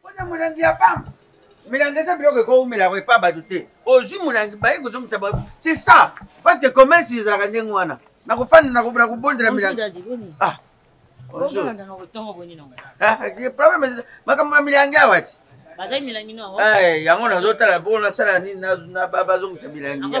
mpona molangi ya pamba milangi eza biloko ekowumela yango epa bato te ozwi molangi baye kozongisa ba c'est ça parce que commerce ezalaka ndenge wana nakofanda nakobona kobondela milangi ah, ah, problème makambo ya milangi awa ti eh, yango nazotala bongo nasala nini bazongisa milangi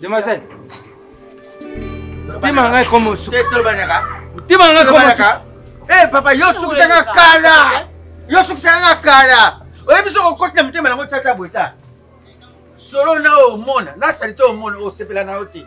demoiselle motema ngai komosu motema ngai komosu eh papa yo sukisa nga kala yo sukisa nga kala oyebi soki okotela motema nango tata bweta solo na oyo omona na salite omona osepela na yo te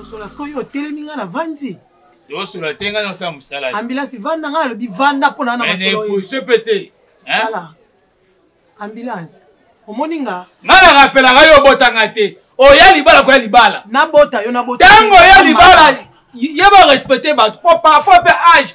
osola sikoyo otelemi ngai na vandi tosola te ngai nasala mosala ambilasi vanda ngai alobi vanda mpo na naepose mpe te ala ambilasi omoni nga ngai narapelaka yo obotanga te oya libala koya libala nabota yo nabota ntango oya libala yeba respecte bato mpo par rapport mpe age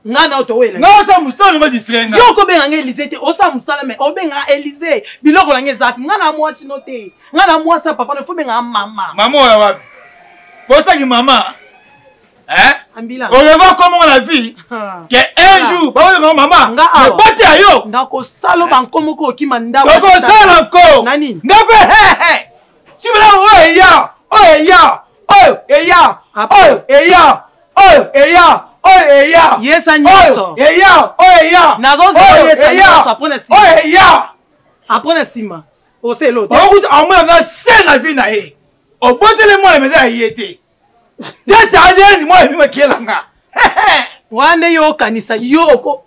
nga na oto wela nga sa musala ngo distraire nga yo ko benga nga Elise te osa musala mais obenga Elise biloko na nga ezap nga na mwasi no te nga na mwasi ya papa no fo benga mama mama oya wapi posa ki mama hein ambila oleva comme on a vu que un jour ba oyo mama nga awa bote ayo nga ko salo ba nkomo ko kima ndawa ko sala ko nani nga pe he he tu veux là oyo ya oyo ya oyo ya oyo ya oyo eya oyo eya yesa nyonso eya oyo eya nazozela yesa nyonso apres na sima oyo eya apres na sima oselo te okuta amona na se na vie na ye obotele mwana meza ya ye te tete adn mwana bima kielanga wana yo okanisa yo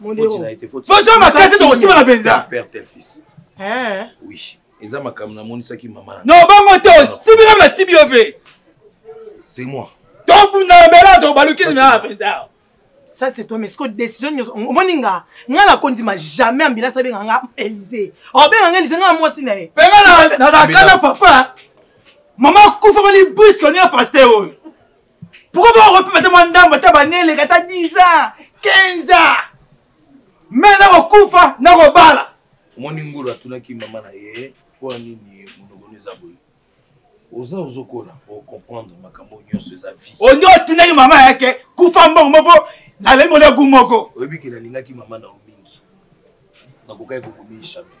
boza makasi tokosibana mpenza eza makambo namonisaki mama na no bongo te osibi kaka nasibi yo mpe c'est moi tobundana mbela tobalukini na mpenza ça c'est toi mais siko décision nyonso omoni nga nga nakondima jamais ambila sabenga nga élysée obenga nga élysée nga mwasi na ye penga nazalaka na papa mama akufa mani briske onia paster oyo pourkoi bakokopi bata mwa ndambo ata baneleka ata 10 ans 15 ans me nakokufa nakobala omoni ngulu atunaki mama na ye mpo ya nini mondogono eza boye oza ozokola ocomprendre makambo nyonso eza vie onde otunaki mama yake kufa mbongo moko nalei molegu moko oyebi ke nalingaki mama na yo mingi nakokaki kokomi jamais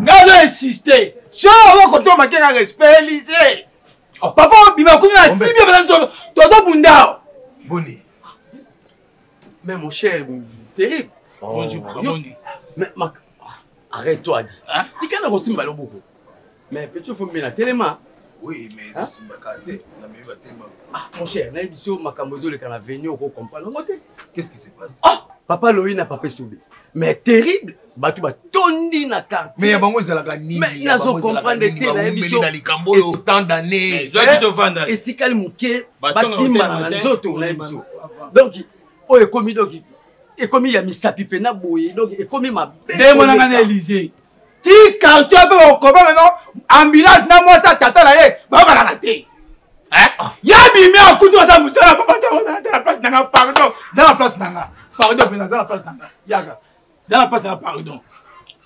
nga azo insiste so oyo kotoma te na respect elise oh. papa obima kuna na simi ebana toto bundao boni mais mon cher terrible oh. mais mak arrête toi dit tika na kosimba loboko mais petit fo mbela telema Oui, mais hein? c'est Bakate, la même Batema. Ah, mon cher, là, ici, ma camozo, le canal venu, on comprend. Qu'est-ce qui se passe Ah, papa Loïna, papa Soubé. Mais terrible, bato batondi na quartier mais bango ezalaka nini nazo comprendre te na émission na likambo oyo tant d'année eh, etikali moke basimbana na nzoto na émission donc oyo ekomi donc ekomi ya misapi mpe na boye donc ekomi mabe nde emonanga na élysée ti quartier mpe bakokoba meno ambulance na mwasi ya tata na ye bayokanaka te eh? ya bimi akuti oza mosala papa ata na place nanga pardon za na place nanga pardon mpenza za na place nanga yaka za na place nanga pardon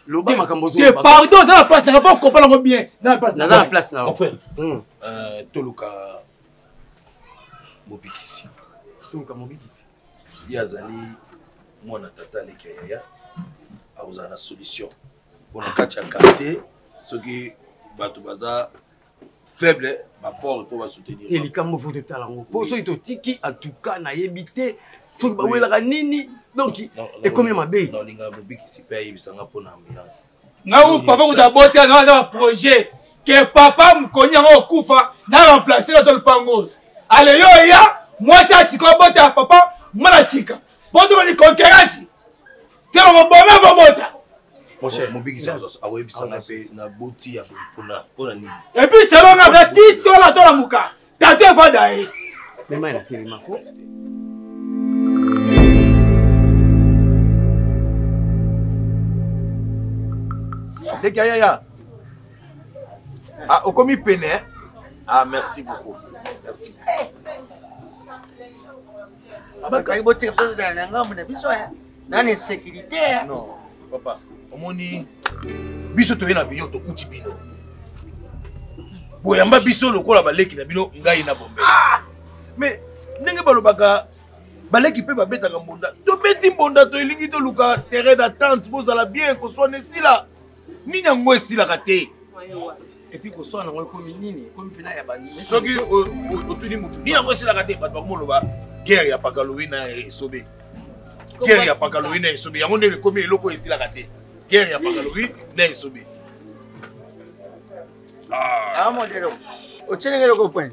loba makambo te pardon za na place nanga mpo okopa nango bien za na place nanga place nanga mon frère hmm. euh, toluka mobikisi toluka mobikisi ye azali mwana tata aleki ya yaya akozala na solution mpo na kati ya quartier soki bato baza faible bafort mpo basoutenir te likambo fo totala yango mpo soki totiki atuka nayebi te soki bawelaka nini donc ekomi mabe nalinga mobikisi mpe ayebisanga mpo na ambulance ngai papa kuta aboti aza na baprojet ke papa mokoni yango okufa na remplace na to lopango oyo ale yo oya mwasi ya sika obota ya papa mwana sika mpo tomoni konkerasi te okoboma kobota epi salonga aza ti tola tola moka Tata evada ye. Mema na telema ko. Leki ya yaya. Ah, okomi pene. Ah, merci beaucoup. Merci. bakaki botika biso tozala na ngambo na biso eh. na na insécurité eh. non papa omoni biso toye na bino tokuti bino boyamba biso lokola baleki na bino ngai na bombe ah! mais ndenge balobaka baleki mpe babetaka mbonda tobeti mbonda toelingi toluka terrain d'attente bozala bien koswana esila nini yango esilaka te epuis koswana yango ekomi nini ekomi mpena ya soki otuni motu nini yango esilaka te bato bakomoloba guerre ya pakalowi na esobe guerre ya pakalowi na esobe yango nde ekomi eloko esilaka te guerre ya pakalowi na esobe ah. ah, otyelenge eloko point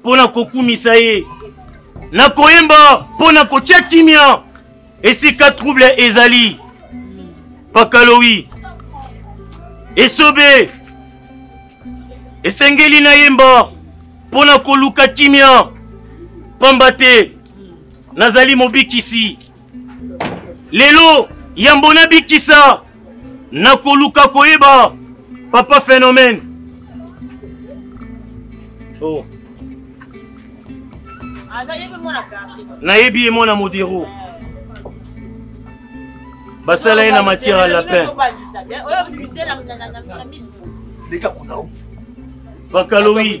mpo na kokumisa ye na koyemba mpo na kotya kimia esika trouble ezali pakalowi esobe esengeli nayemba mpo na koluka kimia mpamba te nazali mobikisi lelo yambo nabikisa nakoluka koyeba papa phénomène oh. nayebi ye mwana modero basala ye na matière ya lapin leka kuna bakalowi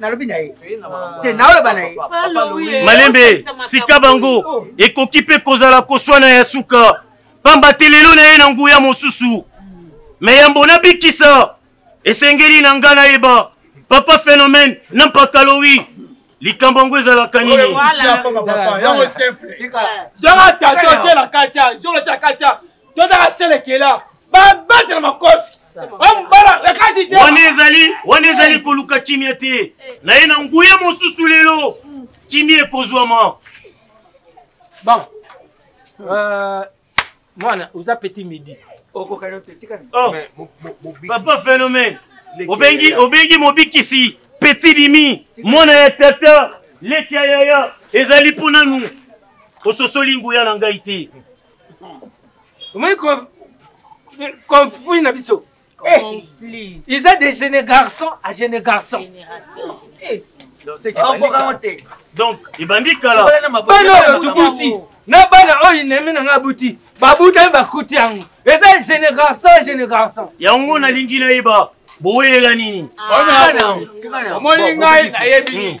nalobi na ye te naoloba na ye malembe tika bango ekoki mpe kozala koswana ya suka pamba te lelo na ye na nguya mosusu me yambo nabikisa esengeli na ngai nayeba papa phénomène na mpakalowi likambo yango ezalaka nini zanga tata otela katya zolo tya katya tozala selekela babatela makofi wana ezali wana ezali koluka kimia te na ye na nguya mosusu lelo kimia ekozwama bon euh, mwana oza petit midi okokana otetika oh. papa phénomène obengi obengi mobikisi petit dimi mwana ya tata leki ya yaya ezali mpo nanu ososoli nguya na ngai te omoni konfui na biso Eh. conflit ils ont des jeunes garçons à jeunes garçons eh. donc ebandi kalabana oyo tobuti na bana oyo inemi nanga abuti babutami bakuti yango eza jeune garçon jeune garçon yango nalingi nayeba bowelela nini omoni ngai nayebi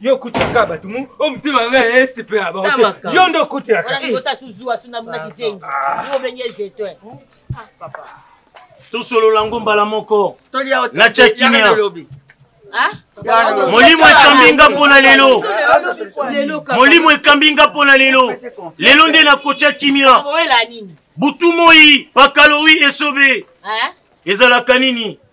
yo okutelaka bato mu o oh, motema nga esipe ya bango te yo nde okutelaka tosolola yango mbala moko natya kimia ah? molimo ekambi nga mpo na lelo molimo ekambi nga mpo na lelo lelo nde nakotya kimia butu moi bakalowi esobe ezalaka nini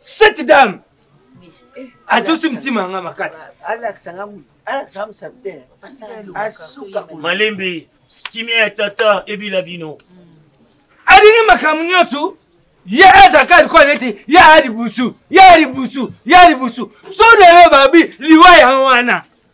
cette dame atosi mtima yanga makasi malembe kimia ya tata ebila bino alingi makambo nyonso ye azaka likola neti ye alibusu ye alibusu ye alibusu so na yo babi liwa yango wana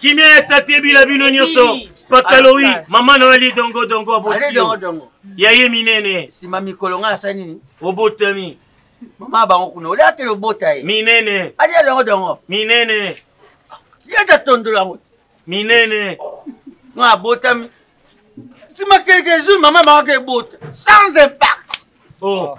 kimia ya tate bila bino nyonso pataloi mama na wali dongo dongo abotio ya ye minene nsima mikolo ngai asali nini obotami mama bango kuna olia atele obota ye minene alia dongo dongo minene yeta tondolo yango te minene ngai abotami nsima quelques jours mama bango aka ebota sans impact oh.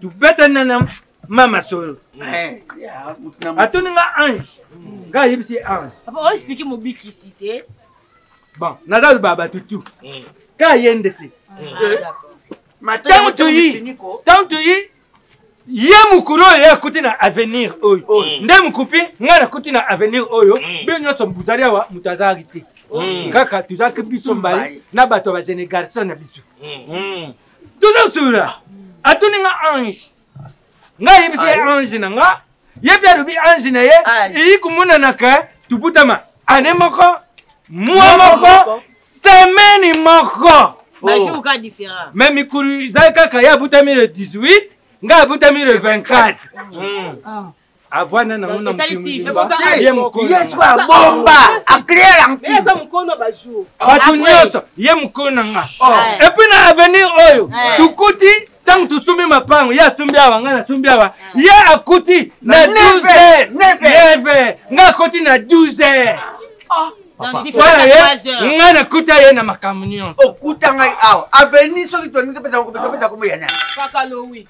tubetana na mama solo eh, atuni nga ange nga ayebisi ye ange oexplike mobikisi te bon naza loba bato tu hmm. ka ye nde te ntango ah, eh, toyi ntango toyi ye mokuru oyo ye akuti na avenir oyo hmm. nde mokupi ngai nakuti na avenir oyo hmm. bino nyonso bozali awa moto azalaki te kaka tozalaki biso mbali na bato ya bazenegarson na biso toza sura atuni nga ange nga ayebisi ye ange na nga ye mpe alobi ange na ye eyi komonanaka tobutama ane moko mwa moko semeni moko oh. me mikulu ezali kaka ye abutami le 18 nga abutami le 24 mm. ah. avanda nango na moye mokoyesu abomba aclaire yankueza mokono ya bajour bato nyonso ye mokolo na nga epuis na avenir oyo tokuti ntango tosombi mapango ye asombi awa ngai nasombi awa ye akuti na 12 neve ngai akoti na 12 ngai nakuta ye na makambo nyonso okuta ngai awa aveni soki topesa kombo ya nani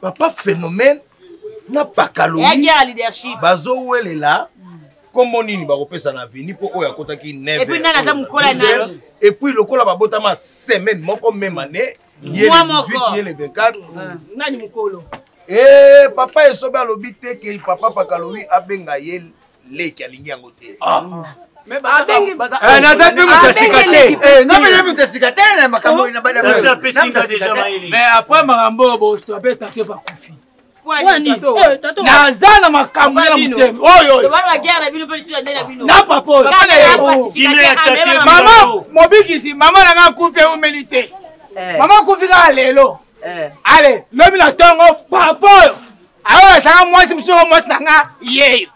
papa phénomène na pakaloi bazowelela nkombo nini bakopesa na aveni mpo oyo akotaki epuis lokola babotama semaine moko meme année ye le 18 ye le 24 nani mokolo ee eh, papa esobe alobi te ke papa pakalowi abenga ye leki alingi yango te ah. Eh, naza mpe moto ya sika teapres makambo oyo botoabeta te bakufi naza na makambo ya motema oyoyona papa oyo mama mobikisi mama nanga akufi eumeli te eh. mama akufi kaka lelo eh. ale lobi na ntongo papa oyo aoyo ezanga mwasi mosusu yango mwasi na nga yeyo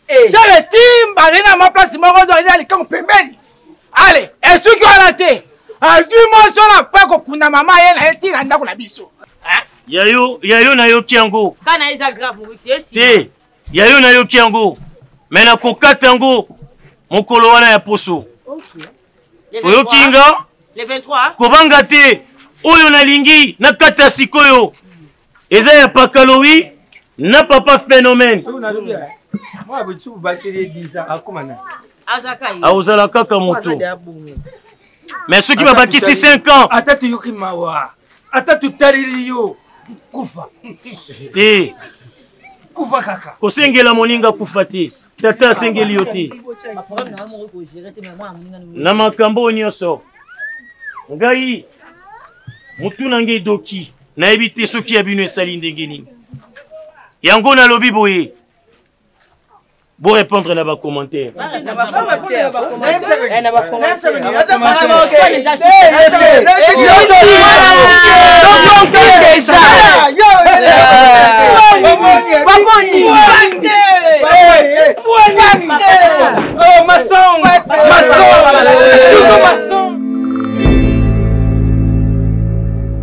eh. sele timba azali na mwa place moko ozo azali na likango pembeni ale esuki wana te azwi moso na mpe kokunda mama ye na ye ntina ndako na biso yayo yayo nayoki yango te yayo nayoki yango me nakokata yango mokolo wana ya poso oyoki nga kobanga te oyo nalingi nakata sikoyo eza ya pakalowi na papa phénomène akozala kaka moto mais soki babakisi 5 ans ata toyoki mawa ata totaleli yo kufa te kufa kaka kosengela moninga kufa te tata asengeli yo te na makambo oyo nyonso ngai motuna ngai doki nayebi te soki ya bino esali ndenge nini yango nalobi boye Bon répondre à vos commentaires.